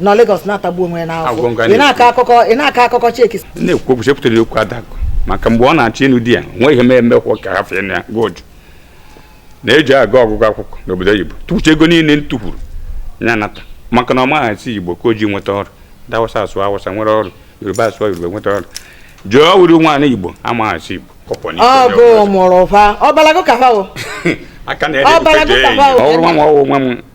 nọ Lagos na-atagbu onwe ya n'afụfụ nga ị na-akọ akụkọ ị na-akọ akụkọ cheki na-ekwu okwu chepụtara okwu Adakụ maka mgbe ọ na-achọ ịnụ di ya nwe ihe mee mekwa ka ha fee na ya gwa Uju na-eji aga ọgụgụ akwụkwọ n'obodo oyibo tụkwucha ego niile m tụkwuru ya nata maka na ọ maghị asụ Igbo ka o ji nweta ọrụ ndị Awụsa asụ Awụsa nwere ọrụ Yoruba asụọ Yoruba nweta ọrụ Uju wụrụ nwaanyị Igbo amaghị asụ Igbo kọpọ n'ike onye ọ gụ ọbụla. mụrụ fa ọbalago ka fa o aka na-ede Ọ bara nke gị jee ka enyi. bawo. ọ bụrụ nwa m ọwụ nwa m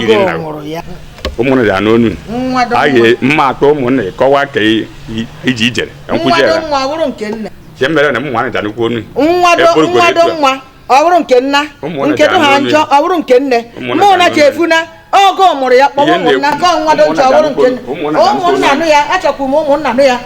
yiri na ụmụnne ya n'onu anyị mma atọ ụmụnna kọwa ka iji ijere nkwụzi ya ihe mere na ụmụnne ya n'ukwu onu ọ bụrụ nke nna nke dị ha njọ ọ bụrụ nke nne mana echefuna ọ gị mụrụ ya kpọwa ụmụnna ka nwa dị njọ ọ bụrụ nke nne ụmụnna nụ ya achọkwuru m ụmụnna nụ ya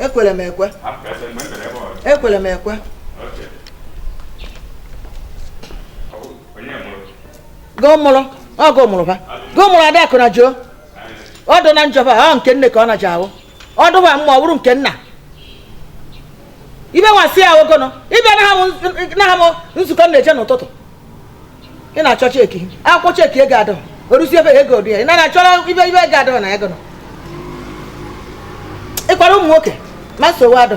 ekwere m ekwe ekwere m ekwe gụ mụrụ ọ gụ mụrụ ba gụ mụrụ Adakụ na Uju ọ dụ na njọ ba ọ nke nne ka ọ na-aja awụ ọ dụba mma ọ bụrụ nke nna ibe nwasị ya ogono ịbịa na ha m nzukọ m na-eje n'ụtụtụ ị na-achọ cheki akwụkwọ cheki ego adọ orusi ebe ego dị ya ị naghị achọrọ ibe ibe ego adọ na ego nọ ịkwara ụmụ nwoke ma nsogbu adọ